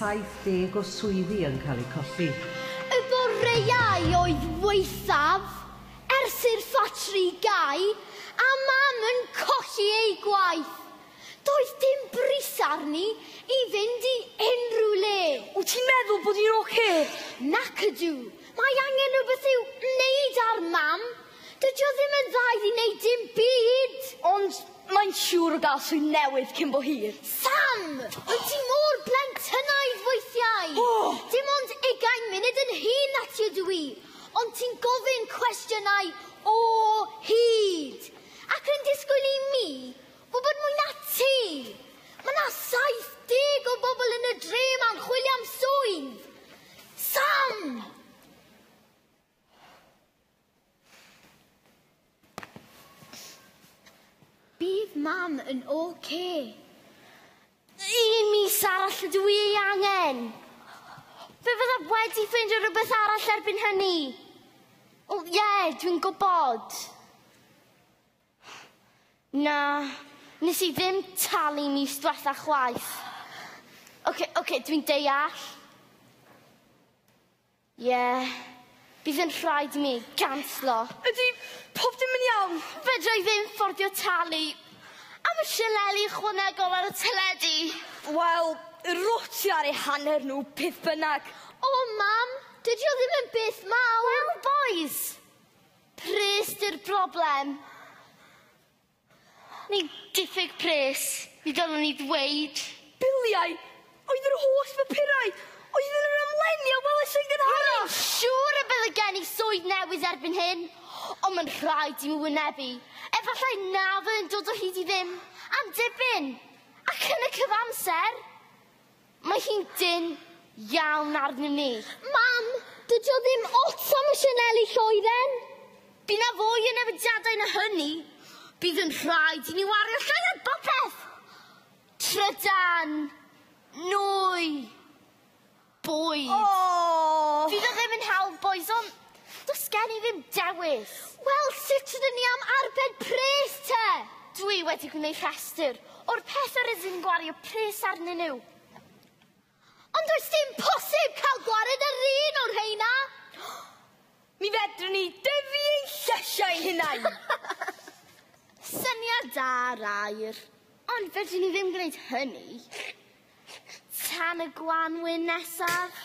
70 o swyddi yn cael eu colli. Y boreau oedd waethaf ers i'r ffatri gau a Mam yn colli ei gwaith. Doedd dim bris arni i fynd i unrhyw le. Wyt ti'n meddwl bod hi'n ocê? Nac ydw. Mae angen rhywbeth i'w wneud ar Mam. Dydi o ddim yn dda iddi wneud dim byd! Ond mae'n siŵr o gael swydd newydd cyn bo hir. Sam! Wyt ti mor blentynnaidd weithiau! Oh! Dim ond ugain munud yn hŷn na ti ydw i, ond ti'n gofyn cwestiynau o hyd! Ac yn disgwyl i mi wybod mwy na ti! Mae na 70 o bobl yn y dre ma'n chwilio am swydd! Sam! Bydd mam yn OK. Un mis arall y dwi ei angen. Fe fydda wedi ffeindio rhywbeth arall erbyn hynny. O, ie, yeah, dwi'n gwybod. Na, nes i ddim talu mis diwetha chwaith. Oce, okay, oce, okay, dwi'n deall. Ie. Bydd yn rhaid i mi ganslo. Ydy pob dim yn iawn? Fedra i ddim fforddio talu am y sianeli ychwanegol ar y teledu. Wel, rwt ti ar eu hanner nhw, beth bynnag. O, Mam, dydy o ddim yn beth mawr. Wel, bois! Pris 'di'r broblem. Ni'n diffyg pres, mi ddylwn i ddweud. Biliau oedd yr holl bapurau oedd yn yr amlenni a welais yn gynharach. Rwy'n siŵr y byddai gen i swydd newydd erbyn hyn, ond mae'n rhaid i mi wynebu, efallai na fyddai'n dod o hyd i ddim am dipyn, ac yn y cyfamser, Mae hi'n dynn iawn arnyn ni. Mam, dydy o ddim ots am y sianeli lloeren! Bydd 'na fwy o newidiadau na hynny. Bydd yn rhaid i ni wario llai ar bopeth! Trydan, nwy, bwyd. O! Fydd o ddim yn hawdd bois, ond... Does gen i ddim dewis. Wel, sut ydyn ni am arbed pres te? Dwi wedi gwneud rhestr o'r pethau rydyn ni'n gwario pres arnyn nhw. Ond does dim posib cael gwared yr un o'r rheina! Mi fedrwn ni dyfu ein llesiau ein hunain! Syniad da, Rair. Ond fedrwn ni ddim gwneud hynny. tan y gwanwyn nesaf.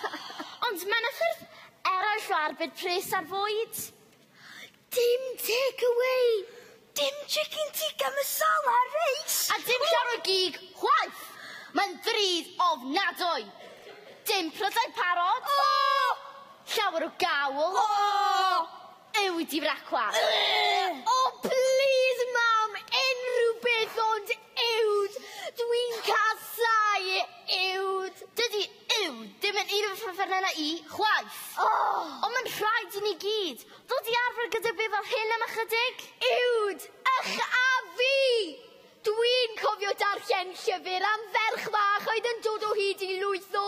Ond mae yna ffyrdd eraill o arbed pres ar fwyd. Dim take away, dim chicken tikka masala reis. A dim llawer o gig chwaith. Mae'n ddrud ofnadwy. Dim prydau parod. O! Llawer o gawl. O! Yw di frecwa? Ugh! O plîs mam, unrhyw beth ond uwd! Dwi'n casau uwd! Dydi uwd ddim yn un o fy ffefrynnau i, chwaith! O! Ond mae'n rhaid i ni gyd ddod i arfer gyda beth fel hyn am ychydig! Uwd! Ych a fi! Dwi'n cofio darllen llyfr am ferch fach oedd yn dod o hyd i lwyth o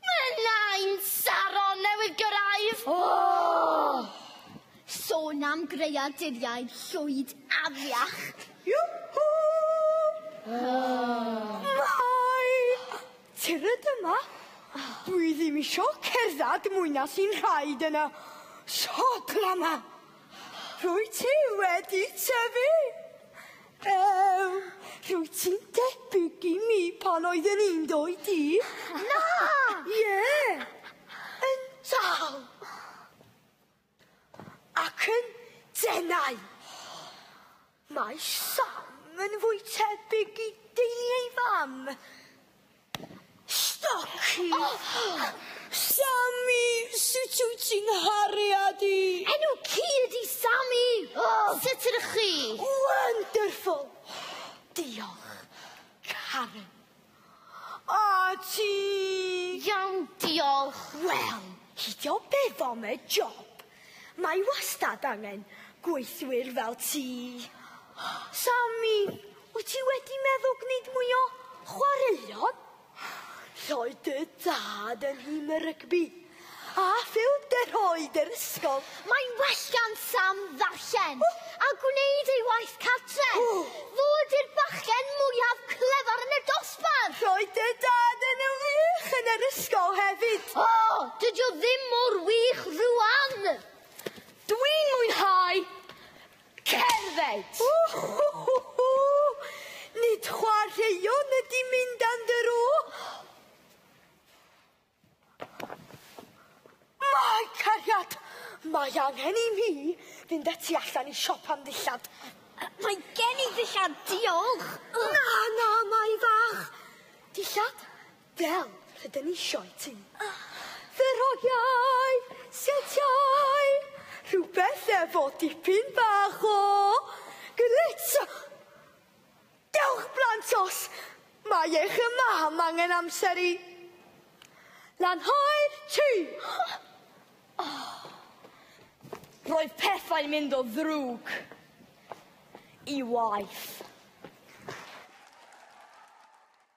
Mae nain Saron newydd gyrraedd! Ohh! Sôn am greaduriaid llwyd afiach! Yhoo! Ohh! Mai! Tyrd yma! Dwi ddim isio cerdded mwy na sy'n rhaid yn y sodla 'ma! Rwyt ti wedi tyfu! Ew! Rwyt ti'n debyg i mi pan oeddwn i'n doi di. Na! Ie! Yn dal! Ac yn denau! Mae Sam yn fwy tebyg i deulu ei fam. Staki! Oh! Sami! Sut wyt ti'n nghariad i? Enw ci ydi Sami! Oh! Sut ydych chi? Wonderful! Diolch, Karen. A ti? Iawn, diolch. Wel, hidio beth am y job? Mae wastad angen gweithwyr fel ti. Sammy, wyt ti wedi meddwl gwneud mwy o chwaraeon? Roedd dy dad yn nhîm y rygbi a phêl-droed yr ysgol. Mae'n well gan Sam ddarllen a gwneud ei waith cartref. Fo ydy'r bachgen mwyaf clyfar yn y dosbarth! Dad! Roedd dy dad yn wych yn yr ysgol hefyd! O! Dydy o ddim mor wych rwan! Dwi'n mwynhau cerdded! Whoo-hoo-hoo-hoo! Nid chwaraeon ydy mynd am dro! Mae cariad! Mae angen i mi fynd â ti allan i siop am ddillad. Mae gen i ddillad, diolch! Na, na, Mai fach! Dillad fel rydyn ni isio i ti. Ferogiau, setiau, rhywbeth efo dipyn bach o glitz! Dewch blant os mae eich y mam angen amser i lanhau'r tŷ! Roedd pethau'n mynd o ddrwg i waeth.